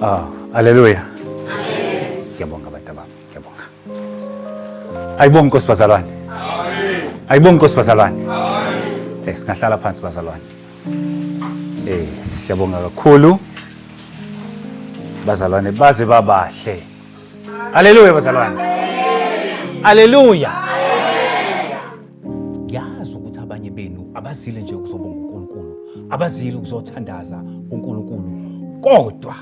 Ah, haleluya. Ngiyabonga abantu abami. Ngiyabonga. Ayibonga Nkosi bazalwane. Amen. Ayibonga Nkosi bazalwane. Amen. Eh, singahlala phansi bazalwane. Eh, siyabonga kakhulu. Bazalwane baze babahle. Haleluya bazalwane. Haleluya. ngiyazi ukuthi abanye benu abazile nje ukuzobonga uNkulunkulu abazile ukuzothandaza kuNkulunkulu kodwa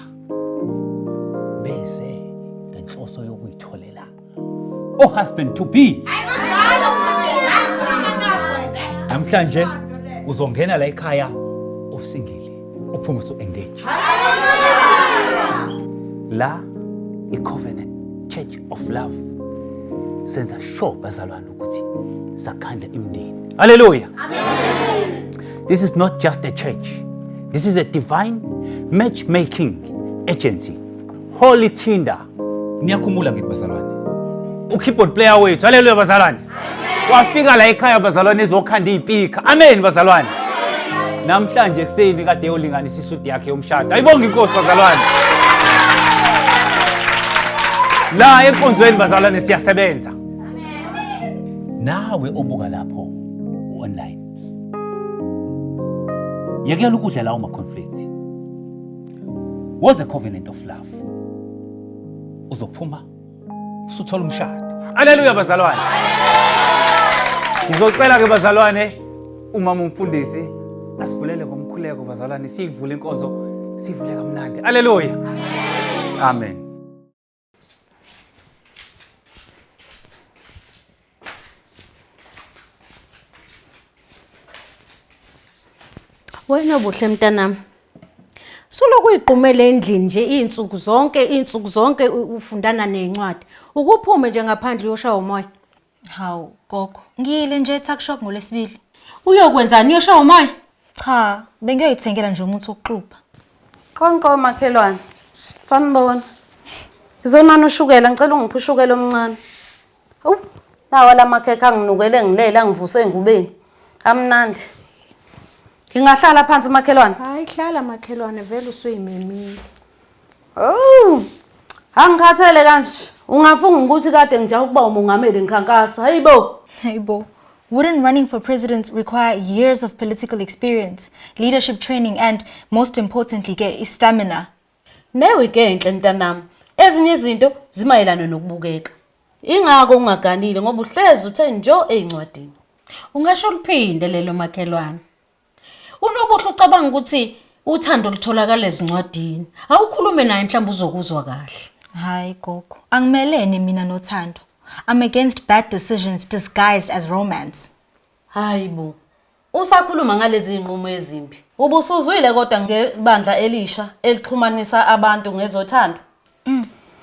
bese ngenhloso yokuyitholela o husband to be namhlanje uzongena la ekhaya usingile uphume usu engage la i covenant church of love senza sure bazalwane ukuthi sakhandla imndeni haleluya this is not just a church this is a divine matchmaking agency holy tinder niyakhumbula ngithi bazalwane ukeyboard player wethu haleluya bazalwane wafika la ekhaya bazalwane ezokhanda iy'pikha amen bazalwane namhlanje ekuseni kade yolinganisa isudi yakhe yomshado ayibonge inkosi bazalwane la enkonzweni bazalwane siyasebenza nawe obuka lapho u-online yekela ukudla lawo ma-conflict was a covenant of love uzophuma usuthola umshado aleluya bazalwane ngizocela-ke bazalwane umama umfundisi asivulele ngomkhuleko bazalwane siyivule inkonzo sivule kamnandi aleluya amen Wena buhle mntanami. Soloku uyiqumele endlini nje izinsuku zonke izinsuku zonke ufundana nezincwadi. Ukuphume nje ngaphandle uyoshaya umoya. Hawu gogo, ngiyile nje eTuck Shop ngoLwesibili. Uyokwenzani? Uyoshaya umoya? Cha, bengiyoyithengela nje umuthi wokuxubha. Qonqo makhelwane. Sanibona. Ngizonana ushukela, ngicela ungiphe ushukela omncane. Awu, nawa la makhekhe anginukele ngilele angivuse engubeni. Amnandi. Ngingahlala phansi makhelwane. Hayi hlala makhelwane vele usuyimemile. Oh! Angikhathele kanje. Ungafunga ukuthi kade ngijaha ukuba umongameli ngikhankasa. Hayibo. Hayibo. Wouldn't running for president require years of political experience, leadership training and most importantly ke istamina? Newe ke enhle mntanami. Ezinye izinto zimayelana nokubukeka. Ingako ungaganile ngoba uhlezi uthe njo ezincwadini. Ungasho liphinde lelo makhelwane. Unobuhle ucabanga ukuthi uthando lutholakala ezincwadini. Awukhulume naye mhlawumbe uzokuzwa kahle. Hayi gogo, angimelene mina nothando. I'm against bad decisions disguised as romance. Hayi bo. Usakhuluma ngalezi zinqumo ezimbi. Ubusuzwile kodwa ngebandla elisha elixhumanisa abantu ngezothando?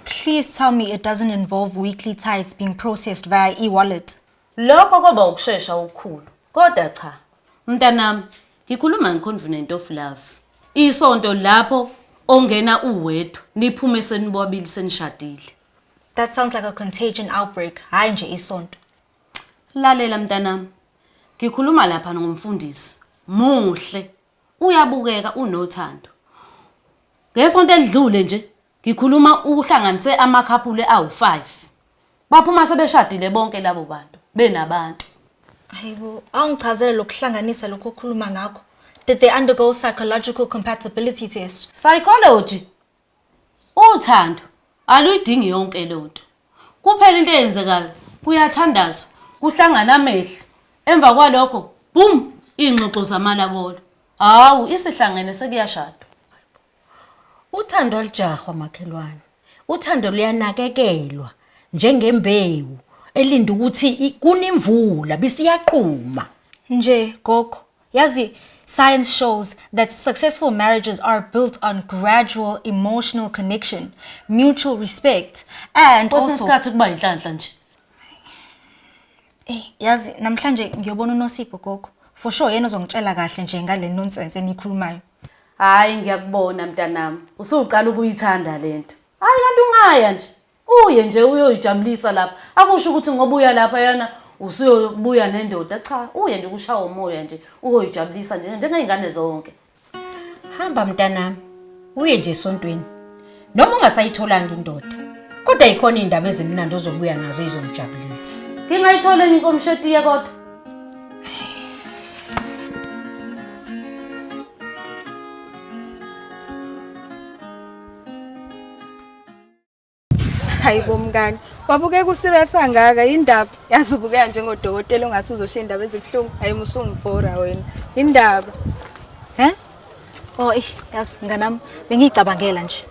Please tell me it doesn't involve weekly tithes being processed via e-wallet. Lokho koba ukushesha okukhulu. Kodwa cha. Mntanami, ngikhuluma ngeconvenant of love. Isonto lapho ongena uwedwa, niphume senibobabili senishadile. That sounds like a contagion outbreak, hhayi nje isonto. Lalela mntanami. Ngikhuluma lapha ngomfundisi. Muhle. Uyabukeka unothando. Ngesonto elidlule nje Ngikhuluma uhlanganise amakhaphule awu-five. Baphuma sebeshadile bonke labo bantu, benabantu. Hayibo, awungichazele lokuhlanganisa lokho okhuluma ngakho. Did they undergo psychological compatibility test? Psychology? Uthando aluyidingi yonke leyo nto. Kuphela into eyenzekayo kuyathandazwa, kuhlangana amehlo. Emva kwalokho, boom, iy'ngxoxo zamalabolo. Hawu, isihlangene sekuyashadwa. Uthando alijahwa makhelwane. Uthando luyanakekelwa njengembewu elinde ukuthi i- kune imvula bisiyaqhuma. Nje gogo, yazi science shows that successful marriages are built on gradual emotional connection, mutual respect and Kwesinye also isikhathi kuba yinhlanhla nje. Eh, yazi namhlanje ngiyobona uNosipho gogo. For sure yena ozongitshela kahle nje ngale nonsense enikhulumayo. Hayi ngiyakubona mntanami, usuqala ukuyithanda lento. Hayi kanti ungaya nje. Uye nje uyoyijabulisa lapha. Akusho ukuthi ngoba uya lapha yana usuyobuya nendoda cha, uye nje kushawa umoya nje uyoyijabulisa nje njengezingane zonke. Hamba mntanami. Uye nje esontweni. noma ungasayitholanga indoda kodwa yikhona iy'ndaba ezimnandi ozobuya nazo izomjabulisa ngingayitholeni inkomshetiye kodwa hayi bomngane wabukeka userious angaka indaba yazi ubukeka njengodokotela ongathi uzoshiya indaba ezibuhlungu hayi musungibhora wena indaba he Oh, eish, yazi nganami bengiyicabangela nje.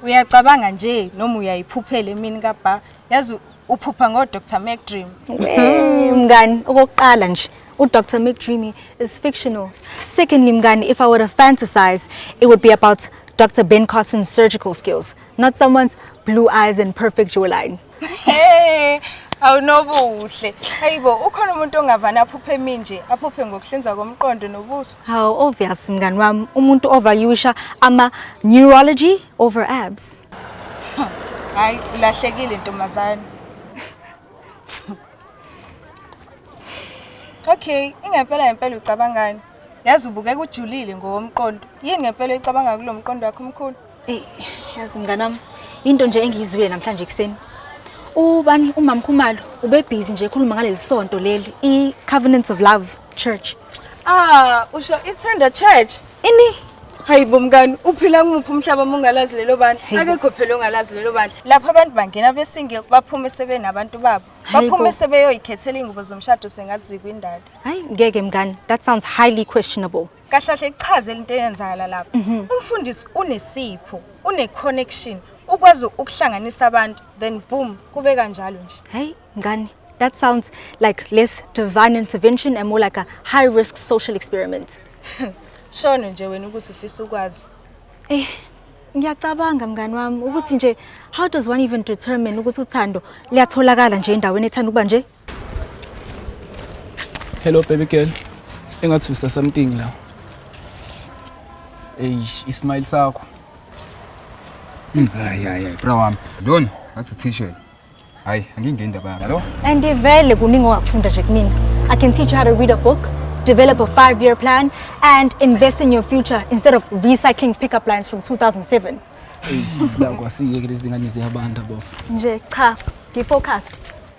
Uyacabanga nje noma uyayiphuphela emini kabha. Yazi uphupha ngo Dr. McDream. Hey, mngani, okokuqala nje uDr. McDreamy is fictional. Secondly, mngani, if I were to fantasize, it would be about Dr. Ben Carson's surgical skills. not someone's blue eyes and perfect jawline hey awunobuhle hayibo ukhona umuntu ongavana aphuphe emi nje aphuphe ngokuhlinza komqondo nobuso hawu obvious mngani wami umuntu overusha ama neurology over abs hayi ulahlekile ntombazane okay ingempela ngempela ucabangani Yazi ubukeka ujulile ngowomqondo. Yini ngempela icabanga kulo mqondo wakho omkhulu? Ey, yazi mnganami, into nje engiyizwile namhlanje ekuseni. Ubani umama Khumalo ubebhizi nje ekhuluma ngaleli sonto leli i Covenants of Love Church. Ah, usho ithanda church. Ini? Hayi bomkani, uphila kumuphi umhlaba mongalazi lelo bandla? Hayi bo. Akekho phela ongalazi lelo bandla. Lapha abantu bangena besinge baphume sebenabantu babo. Hayi bo. Baphume sebeyoyikhethela ingubo zomshado sengathi zikwindalo. Hayi ngeke mngani, that sounds highly questionable. Kahlahle kuchazela into eyenzakala lapha. Mhm. Umfundisi unesipho, une connection, ukwazi ukuhlanganisa abantu then boom kube kanjalo nje. Hayi mngani, that sounds like less divine intervention and more like a high risk social experiment. Shono nje wena ukuthi ufisa ukwazi. Eh, ngiyacabanga mngani wami ukuthi nje how does one even determine ukuthi uthando liyatholakala nje endaweni ethanda ukuba nje Hello baby girl. Engathi usa something la. Eish, ismile sakho. Hmm, hayi hayi, bra wami. Lona ngathi t-shirt. Hayi, angingeni indaba yami. Hello? And vele kuningi ongakufunda nje kumina. I can teach you how to read a book, develop a five-year plan and invest in your future instead of recycling pickup lines from 2007. Eish, la kwasiyeke lezi ngane ziyabantu bofu. Nje cha, ngifocused.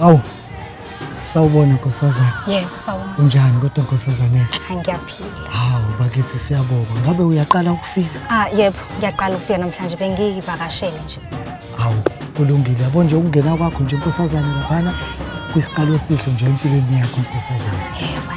Awu. Sawubona nkosazana. Yebo, sawubona. Unjani kodwa nkosazana? Ngiyaphila. Hawu bakithi siyabonga. Ngabe uyaqala ukufika? Ah, yebo, ngiyaqala ukufika namhlanje bengiyivakashele nje. Hawu, kulungile. Yabo nje ukungena kwakho nje nkosazana laphana kwisiqalo esihle nje empilweni yakho nkosazana. Yebo,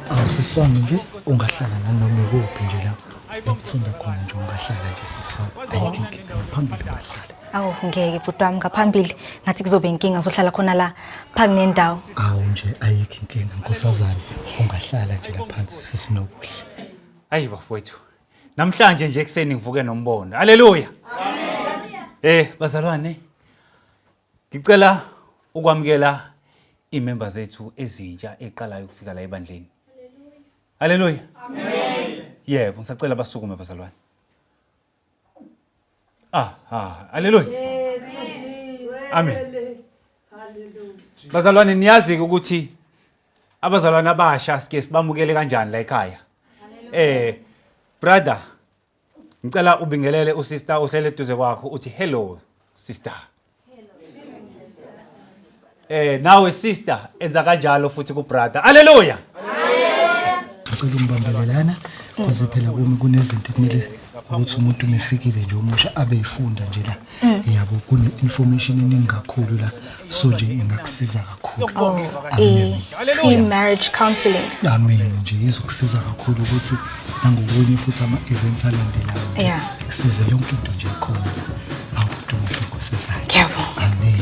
Awusiswanga nje ungahlala nanoma kuphi nje la ngithanda khona nje ungahlala nje siswanga ayikho inkinga phambili ungahlala awu ngeke bhuti wami ngaphambili ngathi kuzobe inkinga ngizohlala khona la phangi nendawo awu nje ayikho inkinga nkosazane ungahlala nje la phansi sisinokuhle ayi bafowethu namhlanje nje ekuseni ngivuke nombono aleluya eh bazalwane Ngicela ukwamukela imember zethu ezintsha eqalayo ukufika la ebandleni. Haleluya. Amen. Yebo, ngisacela basukume bazalwane. Ah, ah, haleluya. Amen. Bazalwane niyazi ukuthi abazalwane abasha sike sibamukele kanjani la ekhaya. Eh, brother, Ngicela ubingelele usister ohlele eduze kwakho uthi hello sister. Eh nawe sister enza kanjalo futhi ku brother. Hallelujah. ngicela ungibambele lana cause phela kumi kunezinto ekumele ukuthi umuntu mefikile nje omusha abe efunda nje la Mm. yabo kune information eningi kakhulu la so nje ingakusiza kakhulu oh, eh, pre-marriage counseling amen nje izokusiza kakhulu ukuthi nangokunye futhi ama-events alandelayo kusize yonke into nje khona awuduhle nkosazane amen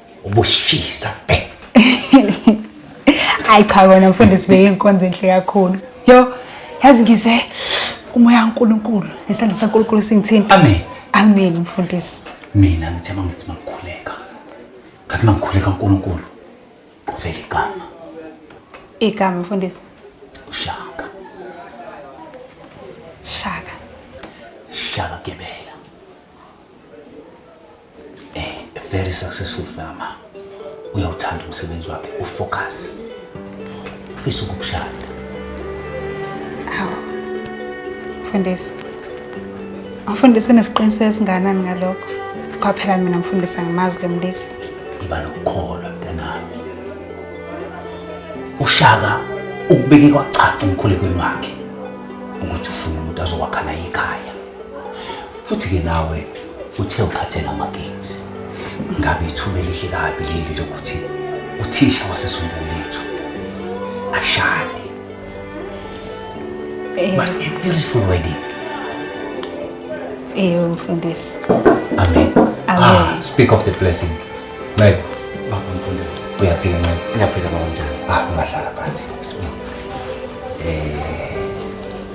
ubushisa eh. hayi cha wena mfundisi beyinkonzo enhle kakhulu yo yazi ngize umoya kaNkuluNkulu nesandla saNkuluNkulu singithinta amen amen mfundisi mina ngithe mangithi mangikhuleka ngathi mangikhuleka uNkulunkulu kuvela igama igama mfundisi ushaka shaka shaka gebela a very successful farmer uyawuthanda umsebenzi wakhe ufocus ufisa ukukushada hawu mfundisi umfundisi unesiqiniseko esinganani ngalokho kwaphela mina mfundisi angimazi lo mlisi iba nokukholwa mntanami ushaka ukubeke kwacaca emkhulekweni wakhe ukuthi ufuna umuntu azokwakha naye ikhaya futhi-ke nawe uthe ukhathela ama-games ngabe ithuba elihle kabi leli lokuthi uthisha wasesontweni lethu ashade Eh. but a beautiful wedding eyo mfundisi amen Amen. ah, speak of the blessing ncebo baba mfundisi uyaphila ncebo ngiyaphila baba njani ah ungahlala phansi sibonge eh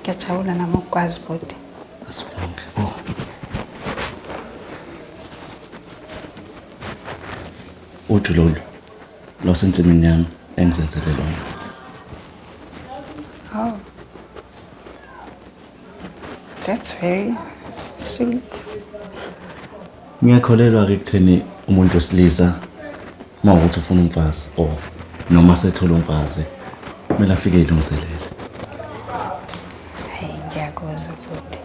Ngiyajabula nami ukukwazi bhuti. Asibonge. Oh. Uju lolu lwasensimini yami engizenzele lona. Oh. That's very sweet. Ngiyakholelwa ke kutheni umuntu wesilisa uma ukuthi ufuna umfazi or noma sethola umfazi kumele afike ilungiselele hayi ngiyakuzwa futhi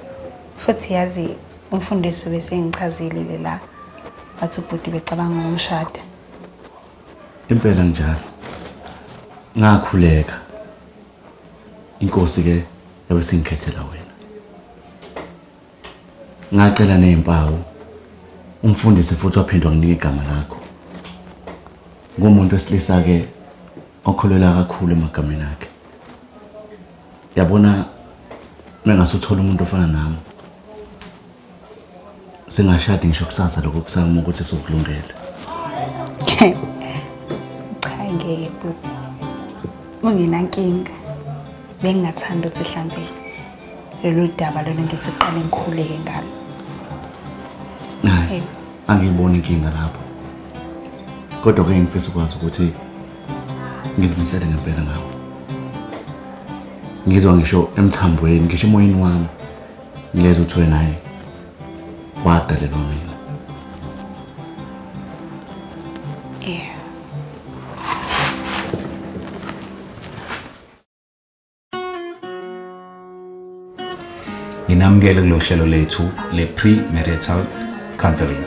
futhi yazi umfundisi besengichazile la bathi ubhuti becabanga ngomshada impela njalo ngakhuleka inkosi ke yabe singikhethela wena Ngacela nezimpawu. Umfundisi futhi waphindwa nginika igama lakho. Ngumuntu wesilisa ke okholelwa kakhulu emagameni akhe. Yabona mengasuthola umuntu ofana nami. Singashadi ngisho kusasa lokho kusama ukuthi sokulungela. Cha ngeke bhuti. Ungenankinga. Bengingathanda ukuthi hlambele. lolu daba lolu ngithi uqale ngikhuleke ngalo hayi angiyiboni inkinga lapho kodwa ke ngifisa ukwazi ukuthi ngizimisele ngempela ngawo ngizwa ngisho emthambweni ngisho emoyeni wami ngileza ukuthi wena hayi wadalelwa mina nginamukele kulolu hlelo lethu le-pre-marital counseling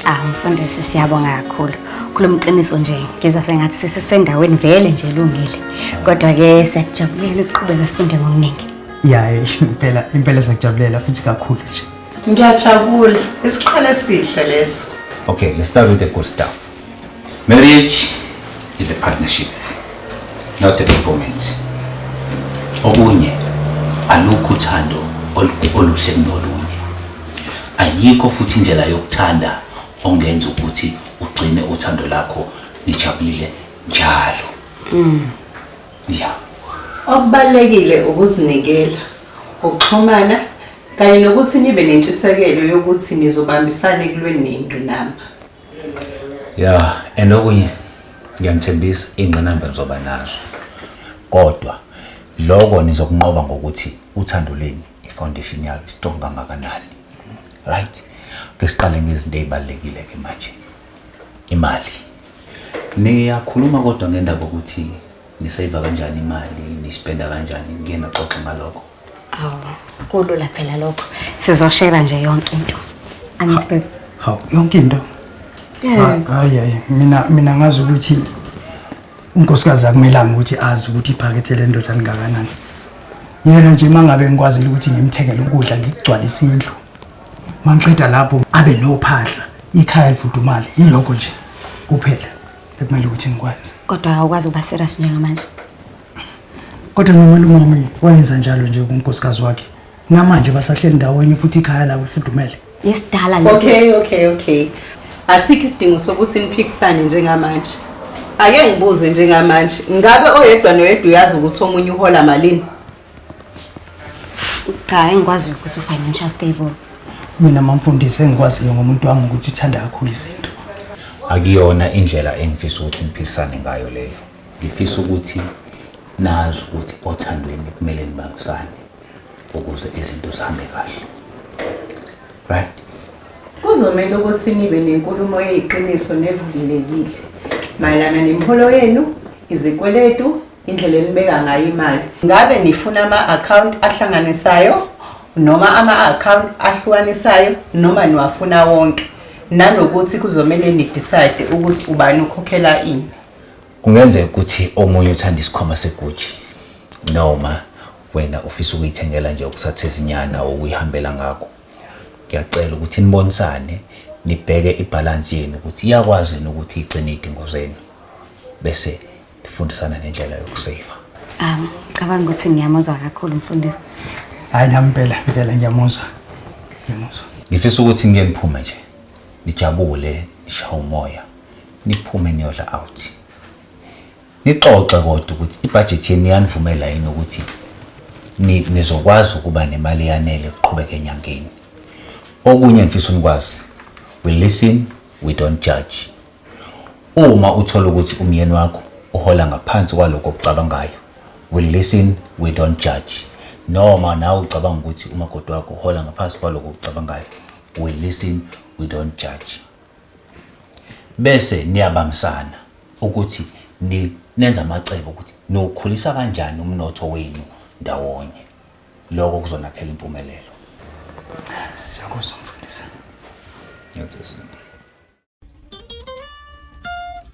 Ah mfundisi siyabonga kakhulu. Khuluma iqiniso nje ngizwa sengathi sisisendaweni vele nje lungile. Kodwa ke siyakujabulela ukuqhubeka sifunde ngokuningi. ya eh, impela impela siyakujabulela futhi kakhulu nje Ngiyajabula. Isiqhele sihle leso. okay let's start with the good stuff Marriage is a partnership, not a performance. Okunye alukho uthando oluhle kunolunye. Ayikho futhi indlela yokuthanda ongenza ukuthi ugcine uthando lakho nijabulile njalo. Mm. Yeah. Okubalekile ukuzinikela, ukuxhumana kanye nokuthi nibe nentshisekelo yokuthi nizobambisana ekulweni nengqinamba. ya and okunye ngiyanithembisa iy'ngqinamba nizoba nazo kodwa loko nizokunqoba ngokuthi uthando leni ifoundation yalo istrong kangakanani right ke siqale ngezinto ey'balulekile-ke manje imali niyakhuluma kodwa ngendaba ukuthi niseva kanjani imali nispenda kanjani ngiyena xoxa ngalokho Hawu, kulula phela lokho. Sizoshela nje yonke into. Angithi babe. Hawu, yonke into. Yeah. Hayi hayi, mina mina ngazi ukuthi unkosikazi akumelanga ukuthi azi ukuthi iphakethe lendoda lingakanani. Yena nje mangabe ngikwazile ukuthi ngimthengele ukudla ngigcwalise indlu. Mangiqeda lapho abe nophahla, ikhaya livudumale, yilokho nje kuphela ekumele ukuthi ngikwazi. Kodwa awukwazi ukuba serious njengamanje. Kodwa nomalume wami wayenza njalo nje kunkosikazi wakhe. Namanje basahleli ndawonye futhi ikhaya labo lifudumele. Isidala leso. Okay, okay, okay. Asikho isidingo sokuthi niphikisane njengamanje. Ake ngibuze njengamanje, ngabe oyedwa noyedwa uyazi ukuthi omunye uhola malini? Cha, engikwazi ukuthi u-financial stable. Mina mamfundisi engikwaziyo ngomuntu wami ukuthi uthanda kakhulu izinto. Akuyona indlela engifisa ukuthi niphikisane ngayo leyo. Ngifisa ukuthi nazi ukuthi othandweni kumele nibambisane ukuze izinto zihambe kahle. Right? Kuzomele ukuthi nibe nenkulumo eyiqiniso nevulelekile mayelana nemiholo yenu, izikweletu, indlela enibeka ngayo imali. Ngabe nifuna ama-account ahlanganisayo noma ama-account ahlukanisayo noma niwafuna wonke nanokuthi kuzomele nidecide ukuthi ubani ukhokhela ini. Kungenzeka ukuthi omunye uthanda isikhwama seguji noma wena ufisa ukuyithengela nje okusathizinyana okuyihambela ngakho ngiyacela ukuthi nibonisane nibheke ibhalansi yenu ukuthi iyakwazi yini ukuthi igcine iy'dingo zenu bese nifundisana nendlela yokuseyiva um cabanga ukuthi ngiyamuzwa kakhulu mfundisi hhayi nami impela impela ngiyamuzwa ngiyamuzwa ngifisa ukuthi ngike niphume nje nijabule nishaye umoya niphume niyodla out nixoxe kodwa ukuthi ibhajethi yenu iyanivumela yini ukuthi nizokwazi ukuba nemali eyanele kuqhubeka enyangeni okunye ngifisa unikwazi we listen we don't judge uma uthola ukuthi umyeni wakho uhola ngaphansi kwaloko okucabangayo we listen we don't judge noma nawe ucabanga ukuthi umakoti wakho uhola ngaphansi kwaloko okucabangayo we listen we don't judge bese niyabambisana ukuthi ni, nenza amacebo ukuthi niwukhulisa kanjani umnotho wenu ndawonye lokho kuzonakhela impumelelo siyakuzwa mfundisi That's it.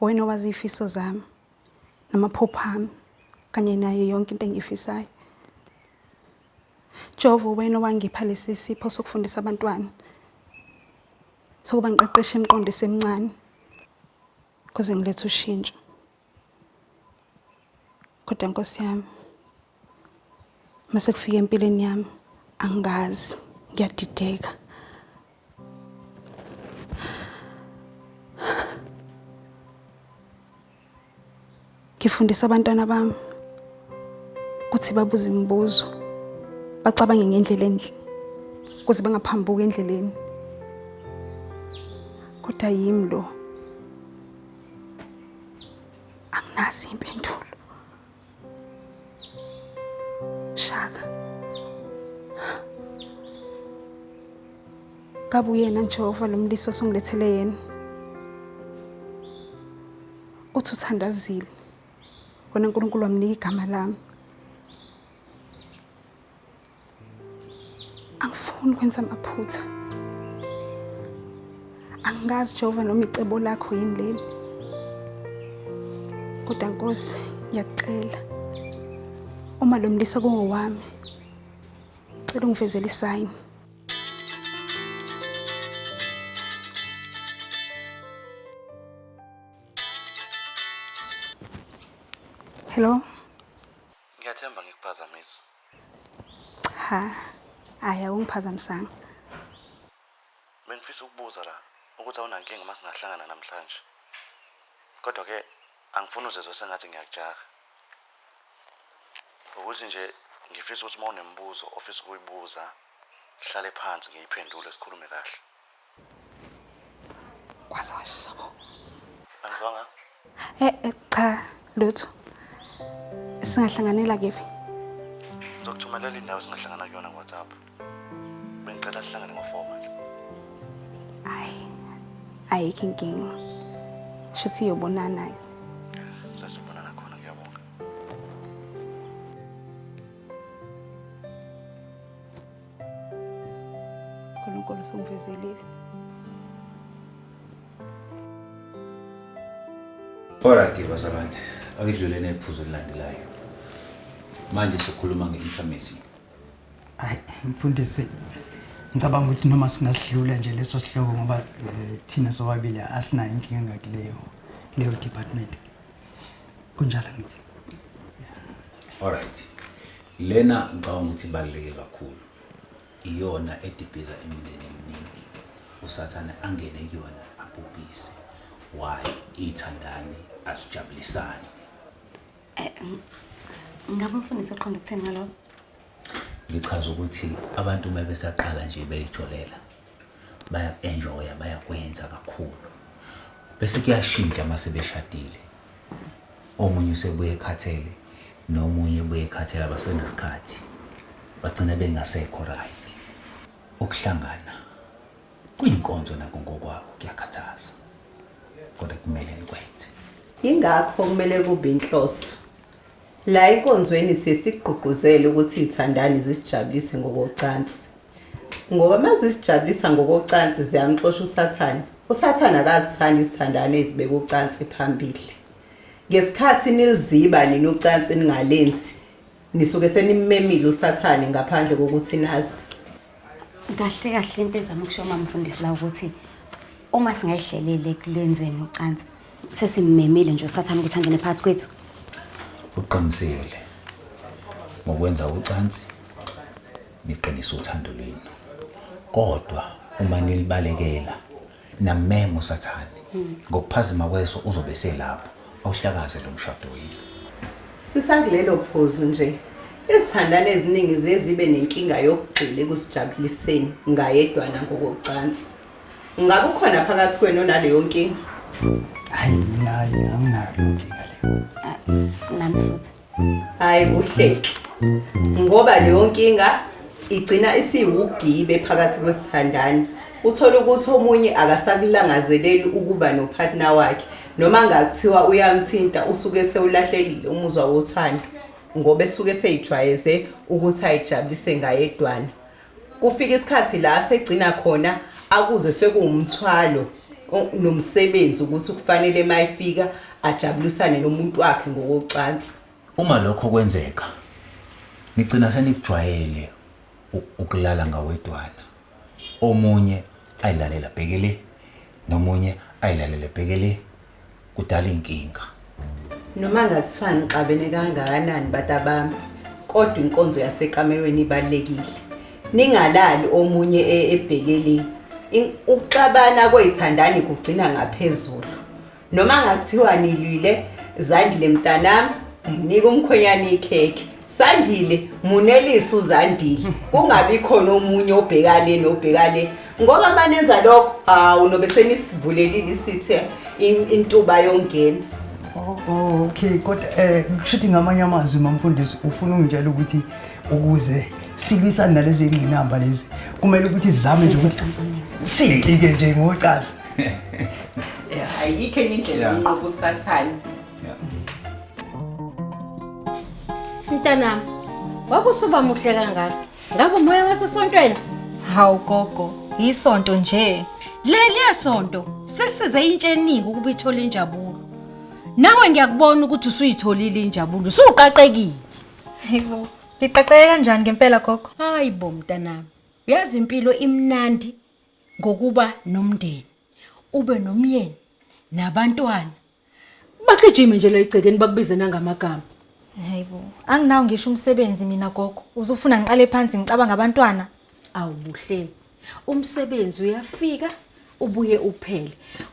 Wena owazi ifiso zami namaphupho ami kanye nayo yonke into engiyifisayo. Jehova wena owangipha lesi sipho sokufundisa abantwana sokuba ngiqeqeshe imiqondo esemncane kuze ngilethe ushintsho. Kodwa Nkosi yami mase kufika empilweni yami angazi ngiyadideka ngifundisa abantwana bami ukuthi babuze imibuzo bacabange ngendlela enhle ukuze bangaphambuki endleleni kodwa yimi lo anginazi impendulo Shaka. Kabe uyena Jehova lo mlisi osungilethele yena. Uthi uthandazile. Wena uNkulunkulu wamnika igama lami. angifuni ukwenza amaphutha angazi jehova noma icebo lakho yini leli kodwa nkosi ngiyakucela uma lo mlisa kungowami cela ungivezele isayini hello ngiyathemba ngikuphazamisa Cha. Hayi awungiphazamisanga. Bengifisa ukubuza la ukuthi awunankinga uma singahlangana namhlanje. Kodwa ke angifuni uzizwe sengathi ngiyakujaha. Ukuthi nje ngifisa ukuthi uma unemibuzo ofisa ukuyibuza sihlale phansi ngiyiphendule sikhulume kahle. Kwazosho. Angizwanga. Eh, eh cha lutho. Singahlanganela kephi? Ngizokuthumelela indawo singahlangana kuyona ngoWhatsApp. Bengicela sihlangane ngo-4 manje. Hayi. Ayikho inkinga. Shuthi yobonana ke. Sasibonana khona ngiyabonga. uNkulunkulu usungivezelile. Alright bazalwane, akudluleni ephuzu elilandelayo. Manje sokhuluma nge-intimacy. Hayi mfundisi ngicabanga ukuthi noma singasidlula nje leso sihloko ngoba eh, thina sobabili asinayo inkinga ngakuleyo leyo department. Kunjalo ngithi. Alright. Lena ngicabanga ukuthi ibaluleke kakhulu, iyona edibhiza imindeni eminingi, usathane angene kuyona abhubhise. Why? Iy'thandani azijabulisani. Eh, ng- Ngabe umfundisi uqonda ukuthini ngalokho? Ngichaza ukuthi abantu uma besaqala nje beyijolela, baya-enjoya bayakwenza kakhulu bese kuyashintsha uma sebeshadile omunye usebuye ekhathele nomunye ebuye ekhathele abasenasikhathi bagcina bengasekho right ukuhlangana kuyinkonzo nako ngokwako kuyakhathaza kodwa kumele nikwenze yingakho kumele kube inhloso La enkonzweni siye sikugqugquzele ukuthi izithandani zisijabulise ngokocansi. Ngoba uma zisijabulisa ngokocansi ziyamxosha uSathane. USathane akazithandi izithandani ezibeka ucansi phambili. Ngesikhathi niliziba nina ucansi ningalenzi, nisuke senimmemile uSathane ngaphandle kokuthi nazi. Kahle kahle into ezama ukusho uma mfundisi la ukuthi uma singayihlelele kulenzweni ucansi sesimemile nje usathana ukuthi angene phakathi kwethu. Uqinisele ngokwenza ucansi niqinisa uthando lwenu. Kodwa uma nilibalekela Namemo sathane. Ngokuphazima kweso uzobe selapho. Awuhlakaze lo mshado yini? Sisakulelo phuzu nje. Izithandani eziningi ziye zibe nenkinga yokugxila ekusijabuliseni ngayedwana ngokocansi. Ngabe ukhona phakathi kwenu onaleyo nkinga? Hayi mina hayi anginayo leyo nkinga leyo. Nami futhi. Hayi uhleki. Ngoba leyo nkinga igcina isiwugibe phakathi kwesithandani. Uthola ukuthi omunye akasakulangazeleli ukuba nopartner wakhe noma ngakuthiwa uyamthinta usuke sewulahlekile umuzwa wothando ngoba esuke seyijwayeze ukuthi ayijabulise ngayedwana. Kufika isikhathi la segcina khona akuze sekuwumthwalo o- nomsebenzi ukuthi kufanele uma efika ajabulisane nomuntu wakhe ngokocansi. Uma lokho kwenzeka, nigcina senikujwayele u- ukulala ngawedwana. Omunye ayilalela bheke le, nomunye ayilalele bheke le. kudala inkinga noma ngathiwa nixabene kangakanani batabami kodwa inkonzo yasekamerweni ibalekile ningalali omunye e-, ebhekeli ukuxabana kwezithandani kugcina ngaphezulu noma ngathiwa nilwile zandile mntanami mnika umkhwenyana ikhekhe Sandile munelisa uZandile kungabi khona omunye obheka le nobheka le ngoba manenza lokho hawu nobe senisivulelile isithe in- intuba yongena Oh, oh, okay kodwa eh ngishuthi ngamanye amazwi mamfundisi ufuna ungitshela ukuthi ukuze silwisane nalezi ngqinamba lezi kumele ukuthi zame nje ukuthi sintike nje ngocansi ayikho enye indlela Yeah. yokunqoba usathane Yeah. Mntanami, wabusuba muhle kangaka. Ngabe umoya wasesontweni? Hawu gogo, yisonto nje. Leliya sonto selisize intsha eningi ukuba ithole injabulo. Nawe ngiyakubona ukuthi usuyitholile injabulo, usuqaqekile. Hayibo, ngiqaqeke kanjani ngempela gogo? Hayi bo mntanami, uyazi impilo imnandi ngokuba nomndeni, ube nomyeni nabantwana Bagijime nje la egcekeni bakubize nangamagama. Hayibo, anginawo ngisho umsebenzi mina gogo. Uzofuna ngiqale phansi ngicabanga abantwana. Awu buhleni. Umsebenzi uyafika ubuye uphele.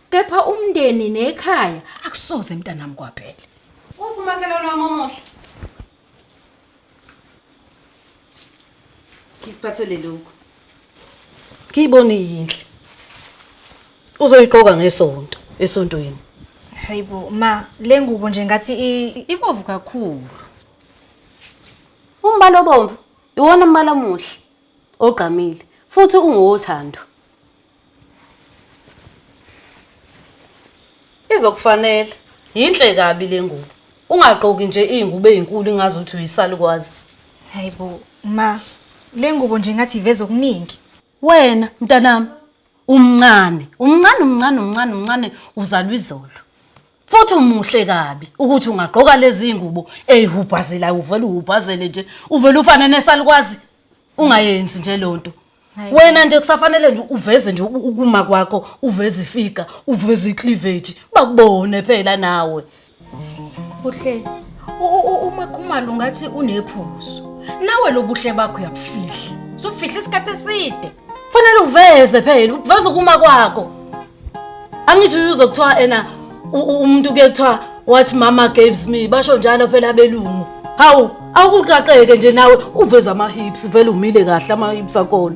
Kepha umndeni nekhaya akusoze mntanami kwaphela. Uphi umakhelwane wami omuhle? ngikuphathele lokhu ngiyibona iyinhle uzoyiqoka ngesonto esontweni hayibo ma le ngubo nje ngathi i- ibovu kakhulu umbala obomvu iwona mbala omuhle ogqamile futhi ungowothando Izokufanele. Yinhle kabi le ngubo. Ungagqoki nje izingubo ezinkulu ingazi ukuthi uyisalukwazi. Hayibo ma, le ngubo nje ngathi iveza okuningi. Wena mntanami umncane, umncane umncane umncane umncane uzalwa izolo. Futhi umuhle kabi ukuthi ungagqoka lezi ngubo ezihubhazelayo uvele uhubhazele nje uvele ufane nesalukwazi. ungayenzi nje lonto Hayi. wena nje kusafanele nje uveze nje uku- ukuma kwakho uveze ifiga uveze icleavage bakubone phela nawe buhle u- u- u- umakhumalo ungathi unephuzu nawe lobuhle bakho uyabufihla sufihla isikhathi eside fanele uveze phela uveze ukuma kwakho angithi uyuzo kuthiwa ena u- u- umuntu ke kuthiwa what mama gives me basho njalo phela abelungu hawu awukuqaqeke nje nawe uveza ama-hips vele umile kahle ama-hips akona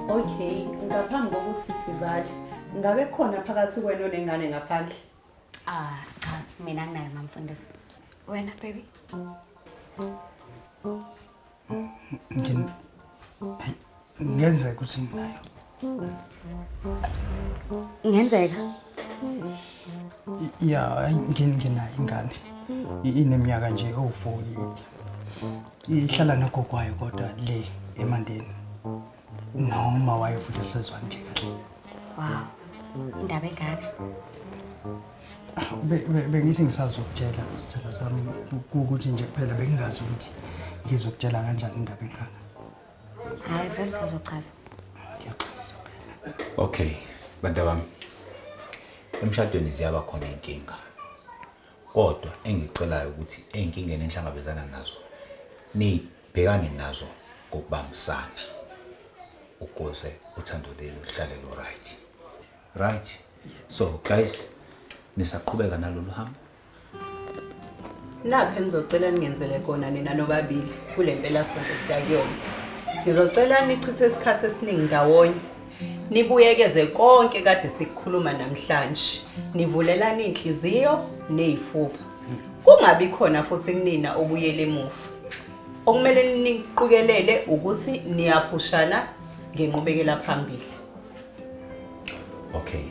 Okay, ngaphambi kokuthi sivale, ngabe khona phakathi kwenu nengane ngaphandle? Ah, cha, mina nginayo mamfundisi. Wena baby. ngenzeka ukuthi nginayo ngenzeka ya nginayo ingane ineminyaka nje owu-four ihlala nogogwayo kodwa le emandeni noma wayo futhi esezwani nje kahle wow indaba engaka Be- be- bengithi ngisazokutshela isithelo sami ku- ukuthi nje kuphela bengingazi ukuthi ngizokutshela kanjani indaba engaka hayi vele usazochaza ngiyaxolisa phela okay bantu bami emshadweni ziyaba khona iy'nkinga kodwa engicelayo ukuthi ey'nkingeni enihlangabezana nazo ni- Bhekani nazo ngokubambisana ukuze uthando leli luhlale lu right. Right. So guys nisaqhubeka nalolu hambo. Nakho engizocela ningenzele kona nina nobabili kule mpela sonke siyakuyona. Ngizocela nichithe isikhathi esiningi ndawonye. Nibuyekeze konke kade sikukhuluma namhlanje. Nivulelana inhliziyo nezifuba. Kungabi khona futhi kunina obuyela emuva. Okumele niqikelele ukuthi niyaphushana ngenqubekela phambili. Okay,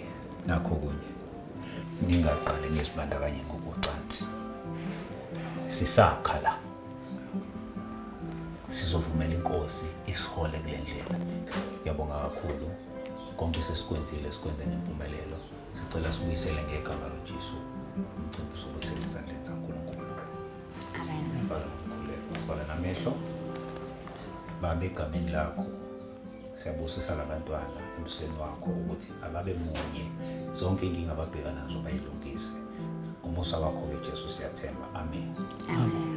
nakho kunye. Ningaqali nizibandakanye ngokocansi. Sisakha la. Sizovumela inkosi isihole kule ndlela. Yabonga kakhulu konke sesikwenzile sikwenze ngempumelelo. Sicela sibuyisele ngegama loJesu. Umcimbi usubuyisele ezandleni zaNkulunkulu. Amen. Bhala umkhuleko, sibhala namehlo. Baba egameni lakho siyabusisa labantwana emseni wakho ukuthi ababe munye zonke inkinga ababhekana nazo bayilungise ngomusa wakho ke Jesu siyathemba amen Amen.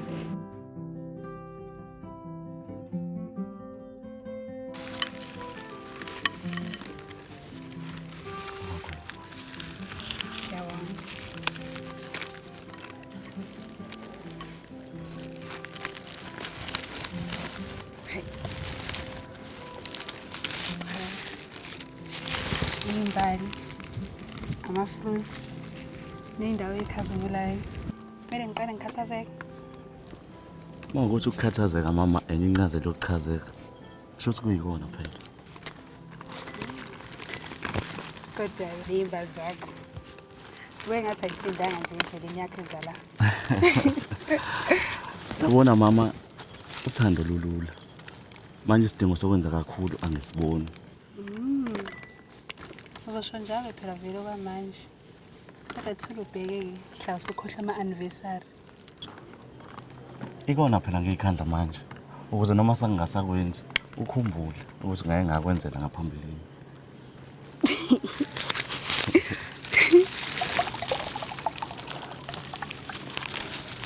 imbali ama-fruits ney'ndawo ey'khazimulayo kumele ngiqale ngikhathazeke uma ukuthi ukukhathazeka mama enye incazelo yokuchazeka Shuthi kuyikona phela. Kodwa limba zakho. Wewe ngathi ayisindanga nje endleleni yakhe zala. Yabona mama uthando lulula. Manje isidingo sokwenza kakhulu angisiboni. Mm. Uzosho njalo phela vele okwamanje. Akathula ubheke hlase ukhohlwa ama-anniversary. Ikona phela ngiyikhandla manje ukuze noma sangingasakwenzi ukhumbule ukuthi ngaye ngakwenzela ngaphambilini.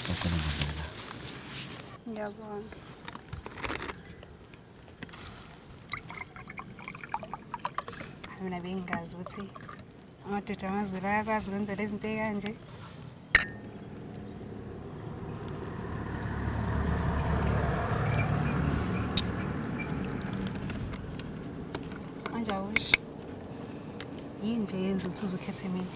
Sacela ngizela. Ngiyabonga. Mina bengingazi ukuthi amadoda amazulu ayakwazi ukwenzela izinto ey'kanje Anjawush. Yini nje yenza ukuthi uzukhethe mina?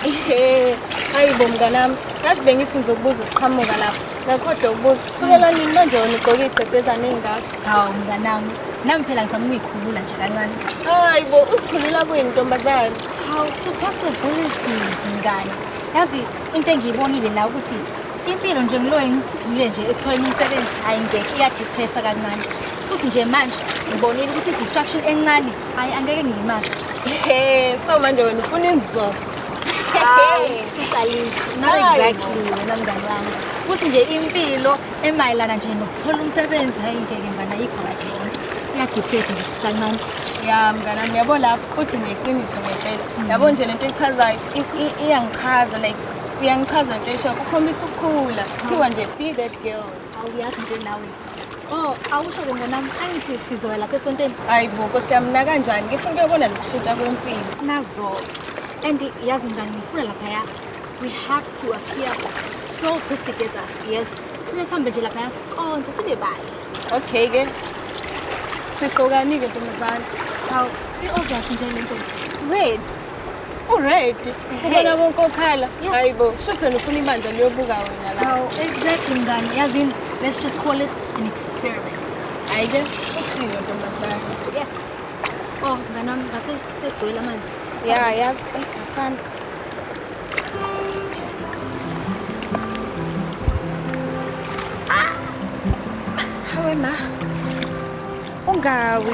Ehe, hayi bo mnganami, ngathi bengithi ngizokubuza siqhamuka lapho. Ngakhohlwa ukubuza. Kusukela nini manje wena ugqoke igqebhezane engaka? Hawu mnganami, nami phela ngizama ukuyikhulula nje kancane. Hayi bo, usikhulula kuyini ntombazane? Hawu, to possibilities mngane. Yazi into engiyibonile la ukuthi Impilo nje ngiloye ngigxile nje ekutholeni umsebenzi hayi ngeke iyadepressa kancane. Futhi nje manje ngibonile ukuthi i-distraction encane hayi angeke ngiyimase. Hey, so manje wena ufuna inzotho. Hayi, usuqalile. Not Hayi bo. exactly wena mngani wami. Futhi nje impilo emayelana nje nokuthola umsebenzi hayi ngeke mngani ayikho kahle yona. Iyadepressa nje kancane. Ya mngane wami yabo lapho kodwa ngeqiniso ngempela. Yabo nje lento echazayo i- i- iyangichaza like Uyangichaza nto esho ukhombisa ukukhula. Kuthiwa nje be that girl. Awuyazi nje nawe. Oh, awusho ke mntanami angithi sizoya lapha esontweni. Hayi bo, Nkosi yami na kanjani? Ngifuna ukuyobona lokushintsha kwempilo. Nazo. And yazi ngani ngifuna lapha ya. We have to appear so put together. Yes. Kufanele sihambe nje lapha ya siconse sibe bahle. Okay ke. Siqokani ke ntombazane. Hawu, i-obvious nje lento. Red. Uready. Ubona bonke okhala. Hayibo, shuthi wena ufuna ibandla liyobuka wena la. Awu, exactly mngani. Yazini, let's just call it an experiment. Ayike, sishilo ntombazane. Yes. Oh, mngani wami, ngase segcwele amanzi. Ya, yazi, eh, asanda. Hawe ma. Ungawi.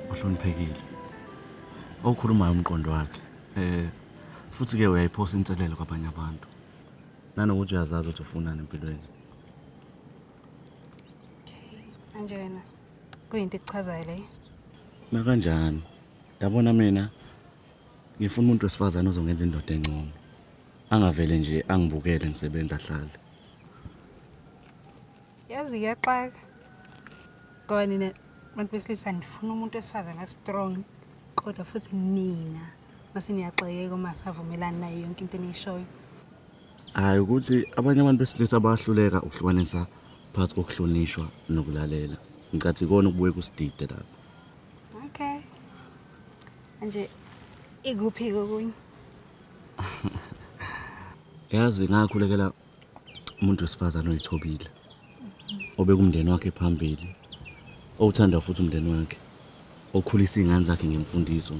Uhloniphekile. Okhulumayo umqondo wakhe. Eh futhi ke uyayiphosa inselelo kwabanye abantu. Nanokuthi uyazazi ukuthi ufunani empilweni. Anjena. Kuyinto ekuchazayo leyo. Nakanjani? Yabona mina ngifuna umuntu wesifazane ozongenza indoda engcono. Angavele nje angibukele ngisebenza hlale. yazi iyaxaka ngoba nina bantu besilisa nifuna umuntu wesifazane strong kodwa futhi nina mase niyaxakeka uma savumelani nayo yonke into eniyishoyo hayi ukuthi abanye abantu besilisa bayahluleka ukuhlukanisa phakathi kokuhlonishwa nokulalela ngicathi ikona ukubuye kusidide lapho okay manje ikuphi kokunye yazi ngakhulekela umuntu wesifazane oyithobile obekumndeni wakhe phambili owuthanda futhi umndeni wakhe okhulisa iy'ngane zakhe ngemfundiso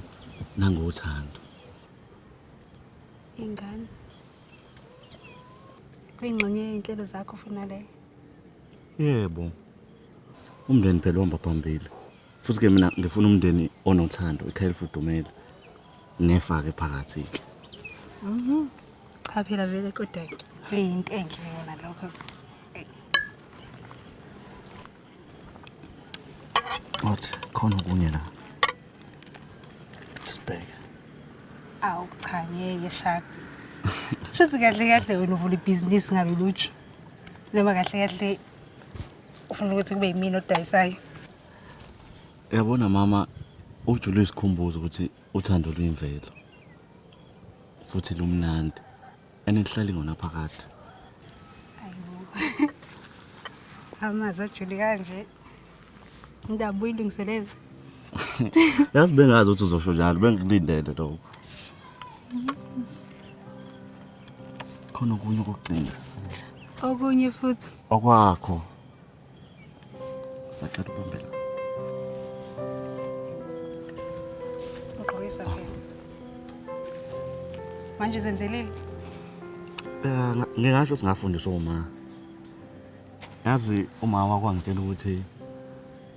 nangothando ingane kuyingxenye yey'nhlelo zakho funa leyo yebo umndeni phela uhamba phambili futhi ke mina ngifuna umndeni onothando ikhaya elifudumele ngefake phakathi-ke mhm. cha phela vele kodwa kuyinto enhle yona lokho What? Khona okunye la. Sibheke. Awu cha ngeke shaka. Shothi kahle kahle wena uvula ibhizinisi ngaloluju. Noma kahle kahle ufuna ukuthi kube yimina odayisayo. Yabona mama ujule isikhumbuzo ukuthi uthando luyimvelo futhi lumnandi and lihlali ngona phakathi amazi ajule kanje indabuo ilungiselela yazi bengazi ukuthi uzosho njalo bengikulindele lokho khona okunye okugcina okunye futhi okwakho Sacela ubambela. Ugqokisa phela. Manje zenzelile? Eh, ngingasho singafundiswa uma. Yazi uma wakwangitshela ukuthi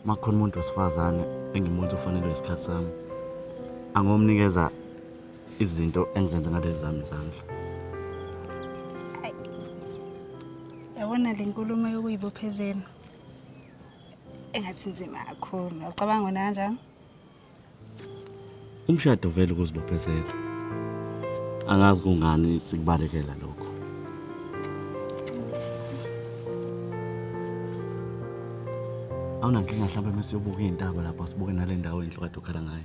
makhona umuntu wesifazane engimuntu ofanelwe isikhathi sami. Angomnikeza izinto engizenza ngalezi zami izandla. Yabona le nkulumo yokuyibophezela engathi nzima kakhulu. Ucabanga wena kanjani? Umshado vele ukuzibophezela. Angazi kungani sikubalekela lokho. Awunankinga mhlawumbe mesiyobuka iy'ntaba lapha sibuke nale ndawo indlu kade ukhala ngayo.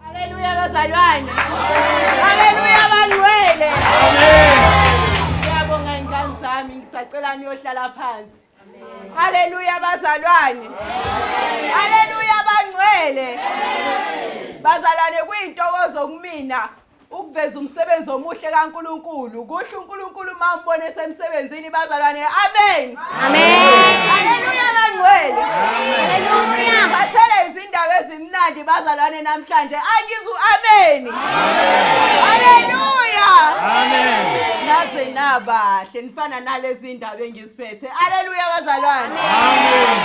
Haleluya bazalwane. Haleluya bangcwele. Ngiyabonga ingane zami ngisacela niyohlala phansi. Haleluya bazalwane. Haleluya bangcwele. Bazalwane kuyintokozo kumina ukuveza umsebenzi omuhle kaNkuluNkulu kusho uNkuluNkulu uma umbona esemsebenzini bazalwane amen amen haleluya bangcwele haleluya bathela izindaba ezimnandi bazalwane namhlanje angizu amen haleluya amen naze nabahle nifana nalezi ndaba engiziphethe haleluya bazalwane amen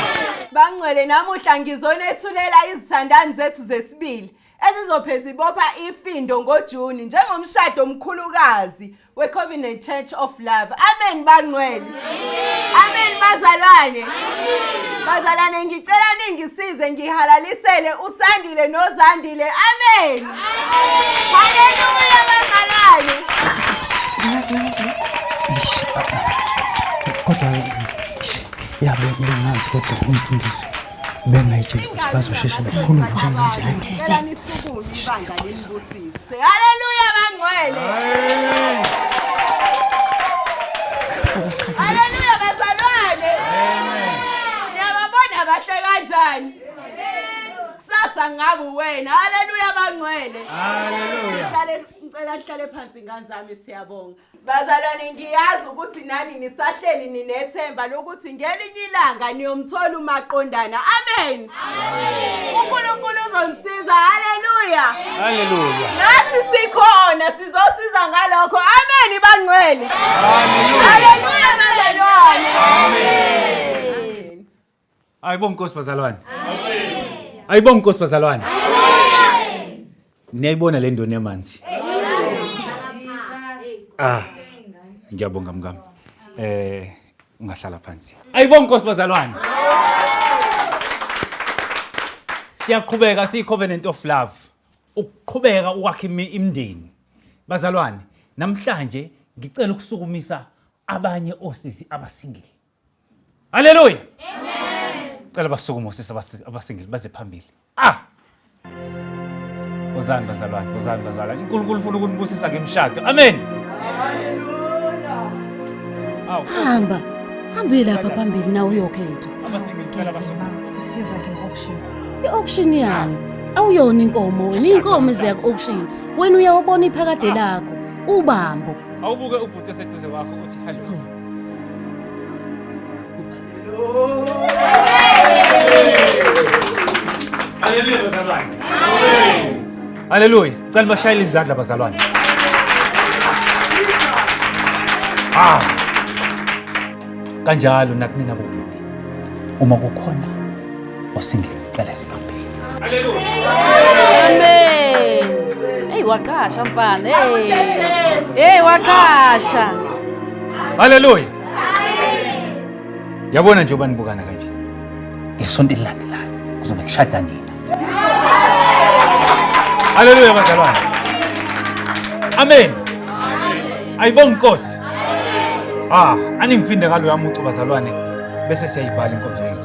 bangcwele namuhla ngizonethulela izithandani zethu zesibili ezizopheza ibopha ifindo ngoJuni njengomshado omkhulukazi weCovenant Church of Love. Amen bangcwele. Amen bazalwane. Bazalwane ngicela ningisize ngihalalisele uSandile noZandile. Amen. Haleluya bazalwane. Kodwa yabe bengazi kodwa umfundisi bengayitsheli ukuthi bazosheshe bekhulume njengendlela haleluya bangcwele haleluya bazalwane niyababona bahle kanjani kusasa ngabe wena haleluya bangcwele ngicela nihlale phansi ngane zami siyabonga Bazalwane ngiyazi ukuthi nani nisahleli ninethemba lokuthi ngelinye ilanga niyomthola umaqondana. Amen. Amen. UNkulunkulu uzonisiza. Haleluya. Haleluya. Nathi sikhona sizosiza ngalokho. Amen bangcwele. Haleluya. Haleluya bazalwane. Amen. Ayibonge Nkosi bazalwane. Amen. Ayibonge Nkosi bazalwane. Amen. Niyayibona le ndoni yamanzi. Ah. Ngiyabonga mkami. Eh ungahlala phansi. Ayibonge Nkosi bazalwane. Siyaqhubeka siyi covenant of love. Ukuqhubeka ukwakha imindeni. Bazalwane, namhlanje ngicela ukusukumisa abanye osisi abasingile. Haleluya. Amen. Cela basukume osisi abasingile baze phambili. Ah! Uzani bazalwane, uzani bazalwane. uNkulunkulu ufuna ukunibusisa ngemshado. Amen. Haleluya. Awu. Hamba. Hambe lapha phambili na uyokhetha. Abasingile cela basukume. This feels like an auction. I-auction yani. Awuyona inkomo wena, inkomo eziya ku-auction. Wena uyawubona iphakade lakho, ubambo. Awubuke ubhuti eseduze kwakho uthi hello. Haleluya. Cela bashayele izandla bazalwane. Ah. Kanjalo nakunina bobhuti. Uma kukhona Osingile cela isibambile. Haleluya. Amen. Hey waqasha mfana. Hey. Hey waqasha. Haleluya. Yabona nje ubani bukana kanje. Ngesonto elilandelayo kuzobe kushada nina. Haleluya bazalwane. Amen. Ayibonga inkosi. Ah, aningifinde ngalo yamucu bazalwane bese siyayivala inkonzo yethu.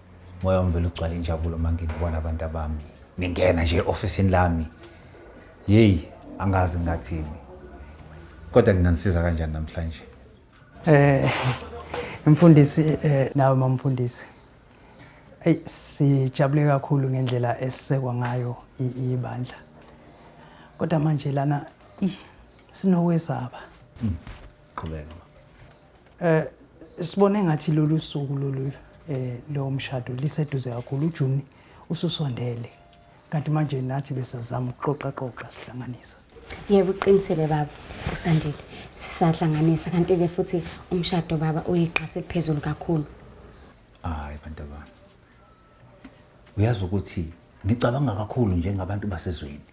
Moya wami vele ugcwala injabulo uma nginibona abantu abami. Ningena nje e-ofisini lami. Yeyi, angazi ngathini. Kodwa nginganisiza kanjani namhlanje? Eh mfundisi eh nawe mamfundisi. Ey sijabule kakhulu ngendlela esisekwa ngayo i- ibandla. Kodwa manje lana ih sinokwesaba. Qhubeka. Eh sibone ngathi lolu suku lolu eh lo mshado liseduze kakhulu uJuni ususondele kanti manje nathi besazama ukuxoxa xoxa sihlanganisa yebo uqinisele baba usandile sisahlanganisa kanti ke futhi umshado baba uyiqhathe phezulu kakhulu hayi bantu abami uyazi ukuthi ngicabanga kakhulu njengabantu basezweni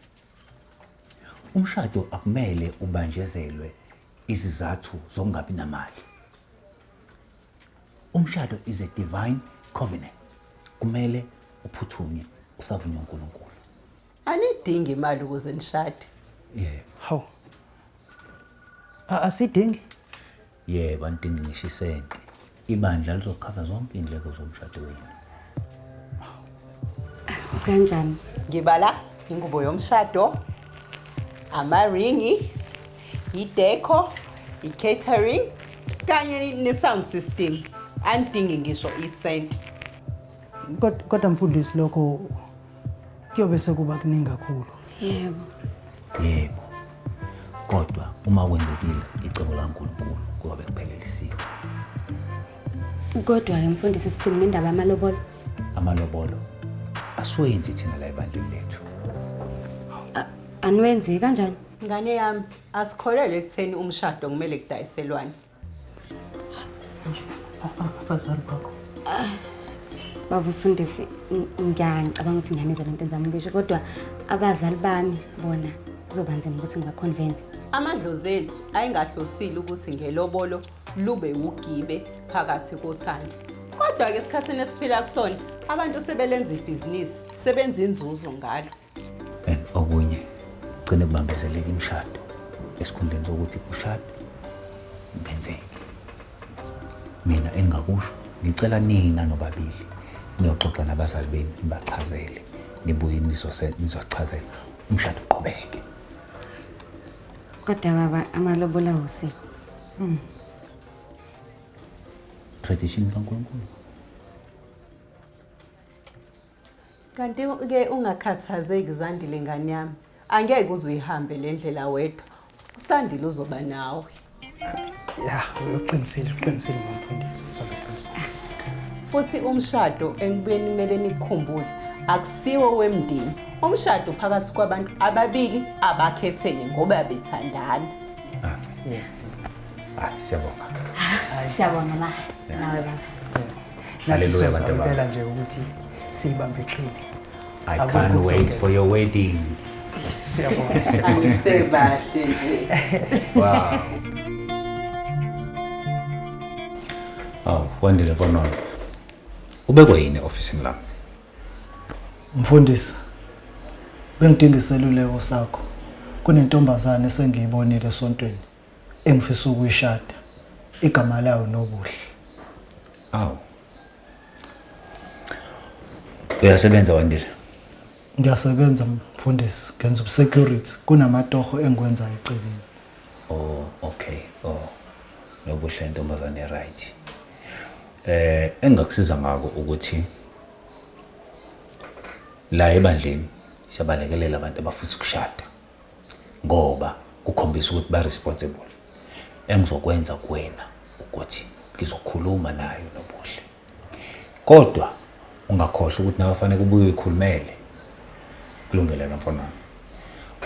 umshado akumele ubanjezelwe Izizathu zokungabi namali. Umshado is a divine covenant. Kumele uphuthunywe usavunywa uNkulunkulu. Anidingi imali ukuze nishade. Yebo. Hawu. A- Asidingi. Yebo, anidingi ngisho isenti. Ibandla lizokhava zonke iy'ndleko zomshado wenu. Kanjani? Ngibala ingubo yomshado, amaringi, ideco, i-catering kanye ne-sound system. Angidingi ngisho isenti. Kod- Kodwa mfundisi lokho kuyobe sekuba kuningi kakhulu yebo yebo kodwa uma kwenzekile icebo lankulunkulu kuyobe kuphelelisiwe kodwa-ke mfundisi sithini ngendaba yamalobolo amalobolo asiwenzi thina la ebandleni lethu aniwenzi kanjani ngane yami asikholelwe ekutheni umshado kumele kudayiselwane abazali bakho ah, baba mfundisi ngiyangicabanga ukuthi ngane zalo nto enzama ngisho kodwa abazali bami bona kuzoba nzima ukuthi ngibaconvince amadlozi ethu ayingahlosile ukuthi ngelobolo lube wugibe phakathi kothando kodwa-ke esikhathini esiphila kusona abantu sebelenza ibhizinisi sebenza inzuzo ngalo and okunye gcine kubambezeleka imishado esikhundleni sokuthi kushadwe benzeke mina engakusho ngicela nina nobabili niyoxoxa nabazali benu nibachazele nibuye nizosichazela umshado uqhubeke kodwa baba amalobola usi mm. tradition kankulunkulu Kanti-ke ungakhathazeki Zandile ngane yami, angeke uze uyihambe le ndlela wedwa, uSandile uzoba nawe. Ya, uqinisile, uqinisile mfundisi, sobe sizona. Futhi umshado engibuyeni kumele nikukhumbule akusiwo wemndeni. Umshado phakathi kwabantu ababili abakhethene ngoba bethandana. Hayi, siyabonga. Siyabonga ma, nawe baba. Hallelujah abantu bami. nje ukuthi siyibambe iqhili. I can't wait for your wedding. Siyabonga. Angisebahle nje. Wow. Oh, Wandile Vonono. Ubekwe yini ofisini lami? Mfundisi. Bengidinga iseluleko sakho. Kunentombazane esengiyibonile esontweni. engifisa ukuyishada igama layo Nobuhle. Awu. Uyasebenza Wandile? Ngiyasebenza mfundisi, ngenza ubusecurity kunamatoho engikwenzayo eceleni. Oh, okay. Oh. Nobuhle intombazane right. Eh engakusiza ngako ukuthi la ebandleni siyabalekelela abantu abafisa ukushada. ngoba kukhombisa ukuthi ba responsible engizokwenza kuwena ukuthi ngizokhuluma nayo nobuhle kodwa ungakhohlwa ukuthi nawe fanele kubuye uyikhulumele kulungile ke mfana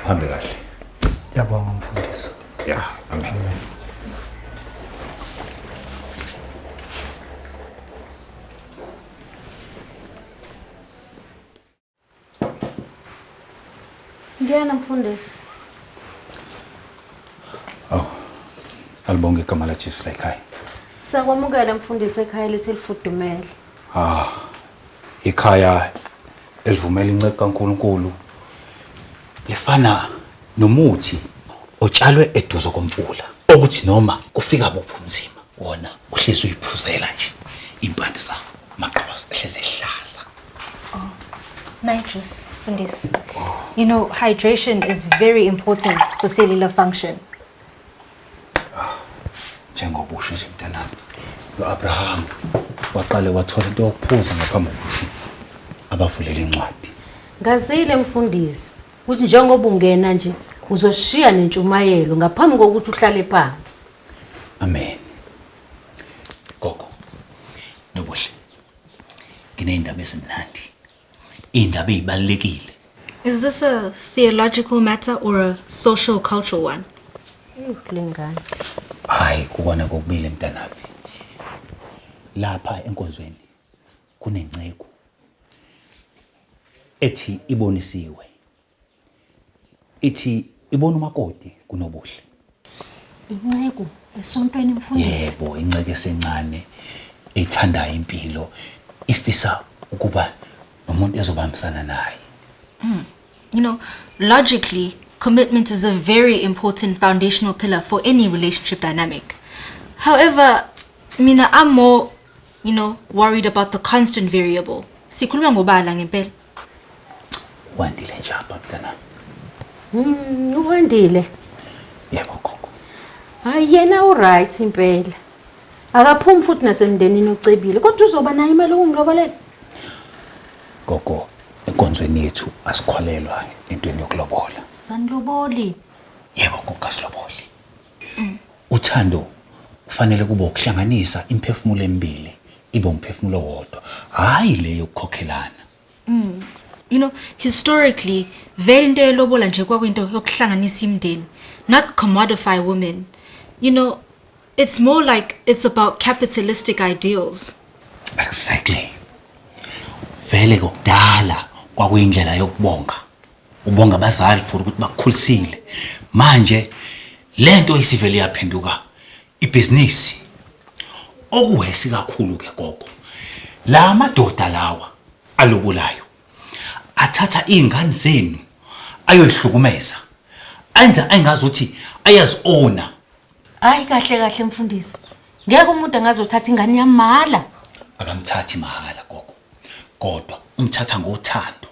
uhambe kahle yabonga mfundisi ya amen, amen. Ngiyena mfundisi. Awu. Alibonge igama la Jesu la ekhaya. Sakwamukela mfundisi ekhaya lethu elifudumele. Ah. Ikhaya elivumela incebo kaNkuluNkulu lifana nomuthi otshalwe eduze komfula okuthi noma kufika buphi umzima wona uhlezi uyiphuzela nje impande zawo maqhoza ehlezi ehlaza Oh, my juice, Fundis. You know, hydration is very important for cellular function. Njengoba usho nje mntanami, uAbraham waqale wathola into yokuphuza ngaphambi kokuthi abavulele incwadi. Ngazile mfundisi ukuthi njengoba ungena nje uzoshiya nentshumayelo ngaphambi kokuthi uhlale phansi. Amen. Gogo. Nobuhle. Nginey'ndaba ezimnandi. Iy'ndaba ey'balulekile. Is this a theological matter or a social cultural one? Lengane. Hayi kukona kokubili mntanami. Lapha enkonzweni kunenceku ethi ibonisiwe ithi ibona umakoti kunobuhle inceku esontweni mfundisi yebo inceke esencane ethandayo impilo ifisa ukuba nomuntu ezobambisana naye hmm. you know logically commitment is a very important foundational pillar for any relationship dynamic however mina i'm more you know worried about the constant variable sikhuluma ngobala ngempela Wandile nje apha mntanami. Mm, uwandile. Yebo gogo. Hayi yena u right impela. Akaphumi futhi nasemndenini ucebile kodwa uzoba nayo imali ukungilobolela. Gogo, enkonzweni yethu asikholelwa entweni yokulobola. Aniloboli. Yebo gogo asiloboli. Uthando kufanele kube ukuhlanganisa imiphefumulo emibili ibe umphefumulo owodwa, hhayi le yokukhokhelana. You know, historically, vele into yelobola nje kwakuyinto yokuhlanganisa imindeni, not commodify women. You know, it's more like it's about capitalistic ideals. Exactly. Vele kokudala kwakuyindlela yokubonga. ubonga abazali for ukuthi bakukhulisile manje lento isivele yaphenduka ibhizinisi okuhesi kakhulu ke gogo la madoda lawa alobolayo athatha iy'ngane zenu ayoyihlukumeza enza engazi ukuthi ayazi-owna hayi kahle kahle mfundisi ngeke umuntu angazothatha ingane yamahhala akamthathi mahhala gogo kodwa umthatha ngothando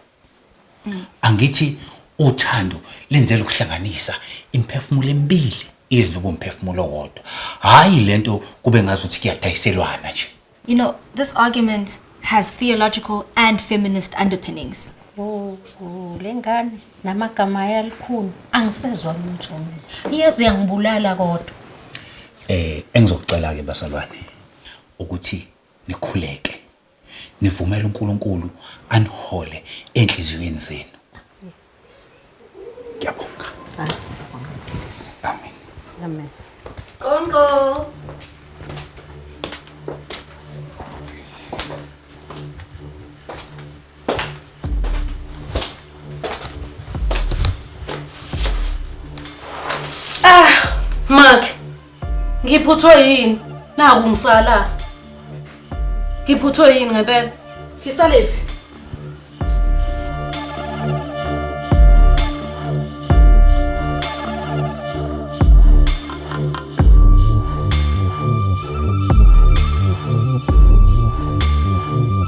angithi uthando lenzela ukuhlanganisa imiphefumulo emibili iyenza ube umphefumulo owodwa hhayi le nto kube ngazuthi kuyadayiselwana nje You know, this argument has theological and feminist underpinnings. Oh, oh, le ngane namagama ayo alikhuni angisezwa lutho mina iyeza uyangibulala kodwa eh engizokucela-ke basalwane ukuthi nikhuleke nivumele uNkulunkulu anihole enhliziyweni zenu. Ngiyabonga. Amen. Amen. Qonqo. Ah, Mark. Ngiphuthwe yini? Naku ngisala. Ngiphuthwe yini ngempela? Ngisalephi?